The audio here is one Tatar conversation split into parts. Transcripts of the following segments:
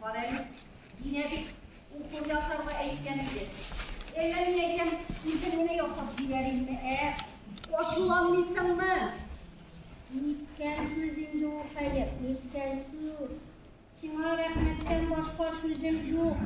Карәле, динә бит укол ясарга әйткән иде. Әллә мин әйтәм, үзем генә ясап җибәрәйме, ә? Ачуланмыйсыңмы? Ниткәнсез инде ул хәер, ниткәнсез. Сиңа рәхмәттән башка сүзем юк.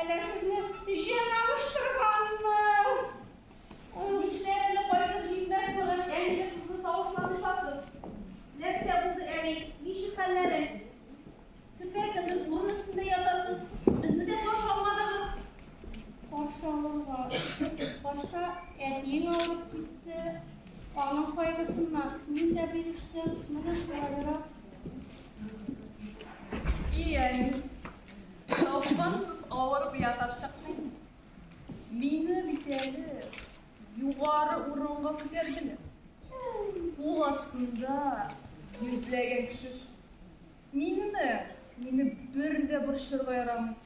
Әллә сезне җен алыштырганмы? Ул нишләр әле кайтып җиңмәс борын әлеге кызны тавышлап ошатып. Нәрсә булды әле? Ничек хәлләрең? Төкердегез, урын өстендә ятасыз. Безне дә каршы алмадыгыз. Каршы алырга. Башта әтиең алып китте. Аның кайгысыннан мин дә бирештем. Менә шулайрак. Иен, ялкынсыз авыр бия тапшыктың. Мине бит әле югары урынга күтәрделәр. Кул астында йөзләгән кеше. Минеме? Мине бер дә борчырга ярамый.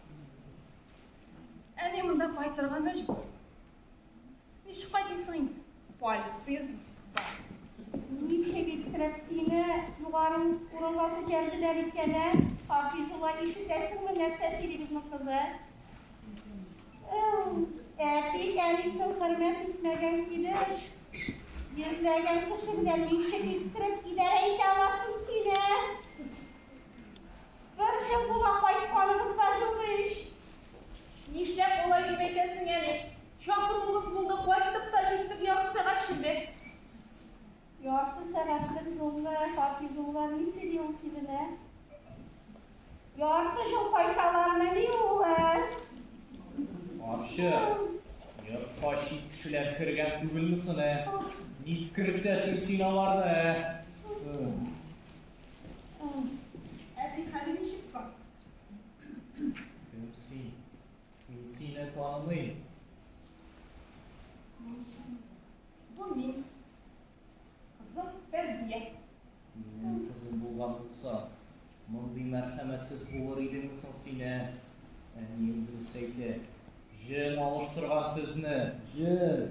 Әни монда кайтырга мәҗбүр. Ничек кайтмыйсың инде? Полиция бар. Ничек иттереп сине югары урынга күтәрделәр икән, ә? Хафизулла, ишетәсеңме, нәрсә сөйли безнең кызы? Әти, әнисен хөрмәт итмәгән килеш, йөзләгән кеше белән ничек иттереп идарә итә аласың сине? Бер жыл була кайтканыбыз да юк ич. Нишләп болай дип әйтәсең әле? Чакыруыбыз булды, кайттык та җиттек, ярты сәгать шимбе. Ярты сәгатьлек юлны хат язуга ни сөйли ул киленә? Ярты жыл кайталармы ни улар? Арчы, йортка чит кешеләр кергән түгелме соне? Ни кертәсең син аларны? Әби хәле ничек соң? Бу син. Мин сине танымыйм. Мин син. Бу мин. Кызым Фәрдия. Минем кызым булган булса, мондый мәрхәмәтсез булыр идеңме соң син, ә? Әнием дөрес әйтә. Җен алыштырган сезне. Җен.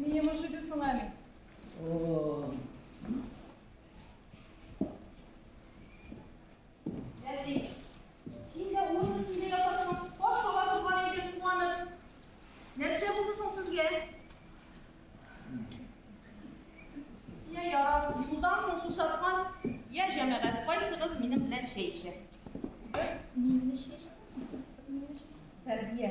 Ни йомыш иде соң әле? Әти, син дә урын өстендә ятасың, каш ала торган идең куанып. Нәрсә булды соң сезгә? Я ярар, юлдан соң сусаткан, я җәмәгать кайсыгыз минем белән чәй эчә? Мине чәчтеңме? Мине чәчтеңме? Тәрбия.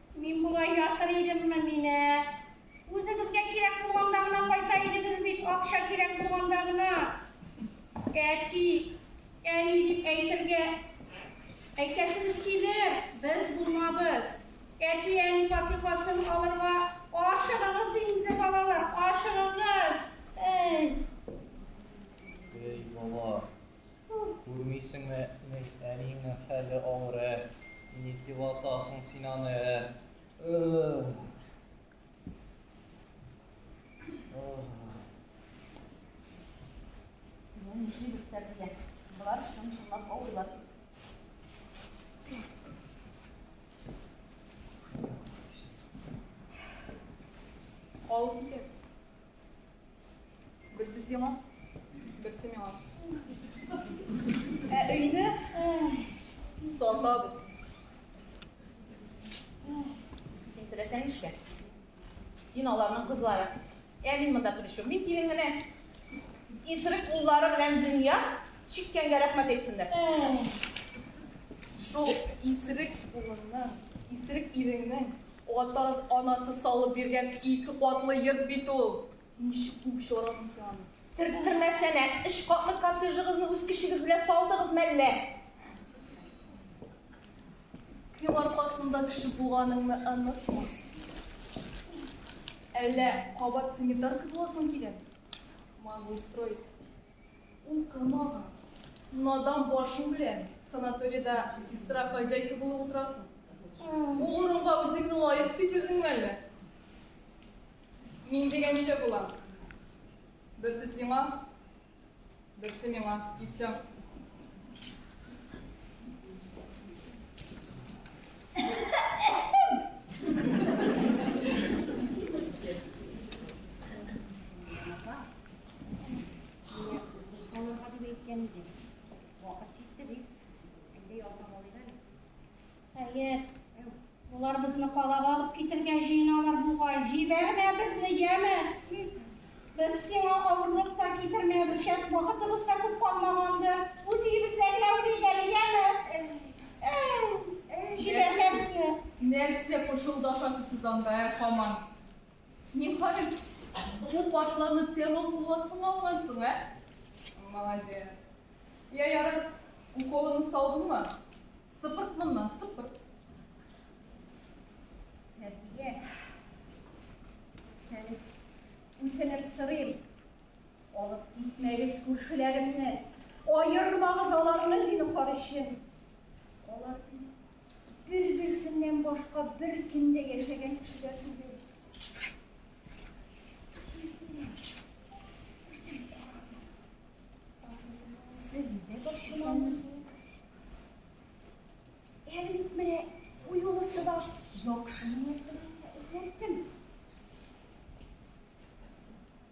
Мин болай ятыр идемме мине? Үзегезгә кирәк булганда гына кайта идегез бит, акча кирәк булганда гына. Әти, әни дип әйтергә әйтәсегез килер, без булмабыз. Әти, әни фатихасын алырга ашыгыгыз инде, балалар, ашыгыгыз. Эй. Эй, бала. Күрмисеңме, әниеңнең хәле авыр, ә? Ни дип атасың син аны, ә? Нишли без тәрбия? Болар чын-чынлап авырлар. Калып китәбез. Берсе сиңа, берсе миңа. Ә өйне сатабыз. Син теләсәң эшлә. Син аларның кызлары. Ә мин монда при чем? Мин килен генә. Исерек уллары белән дөнья чиккәнгә рәхмәт әйтсеннәр. Шул исерек улыңның, исерек иреңнең Ата анасы салып биргән ике катлы йорт бит ул. Ничек куып чыгарасың син аны? Төрттермәсәнә, өч катлы коттеджыгызны үз көчегез белән салдыгыз мәллә? Кем аркасында кеше булганыңны онытма. Әллә кабат санитарка буласың килә? Могу устроить. Укымаган, надан башың белән санаторида сестра хозяйка булып утырасың. Бу урынга үзеңне лаек дип белдеңме әллә? Мин дигәнчә була. Берсе сиңа, берсе миңа, и все. Хәер, улар безне калага алып китергә җыеналар бугай. Җибәрмә безне, яме. Без сиңа авырлык та китермәбез, шәт вакытыбыз да күп калмаганды. Үз өебездә генә үлик әле, яме. Җибәрмә безне. Нәрсә пышылдашасыз сез анда, ә һаман? Ниһаять, бу партларны тәмам кул астыңа алгансың, ә? Молодец. Я ярат, уколымны салдыңмы? Сыпырт моннан, сыпырт. Нәбия, сәне үтенеп сорыйм. Алып китмәгез күршеләремне, аермагыз аларны зинһар өчен. Алар Бер-берсеннән башка бер кем дә яшәгән кешеләр түгел. Сез нидә борчылмагыз? Әле бит менә бу юлы сыбаш яхшы ният белән эзләттем.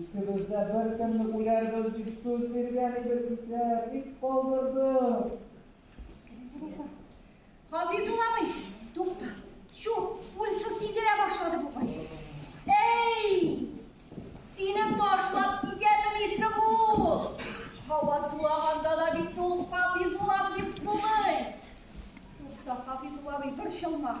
Икебез дә беркемне үләрбез дип сүз биргән идек исә, бик калдырдың. Хафиз уламый. Тукта. Чу, пульсы сизелә башлады бугай. Эй! Сине ташлап китәмен исе бу. Һава сулаганда да бит ул Хафиз улам дип сулый. Тукта, Хафиз уламый, борчылма.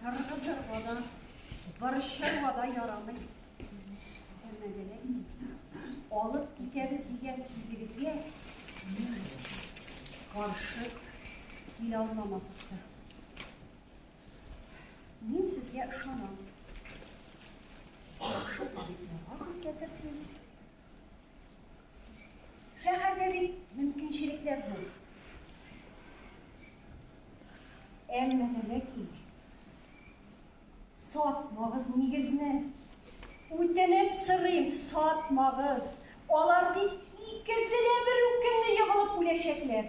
Кыргызларда борычларга да ярамый. Алып китәбез дигән сүзегезгә мин каршы килә алмамак итте. Мин сезгә ышанам. Яхшы табибларга күрсәтерсез. Шәһәрдә бит мөмкинчелекләр зур. Әмма дә ләкин сатмагыз нигезне. Үтенеп сорыйм, сатмагыз. Алар бит икесе дә бер үк көнне егылып үләчәкләр.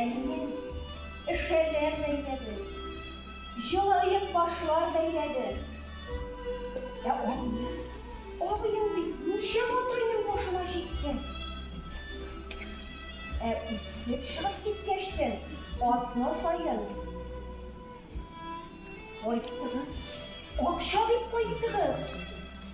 Әнием эшәрләр бәйләде, җылы ыек башлар бәйләде. Ә абыем, абыем бит ничек утырыйның башына җиткән? Ә үсеп чыгып киткәч тә атна саен кайттыгыз, акча бит кайттыгыз.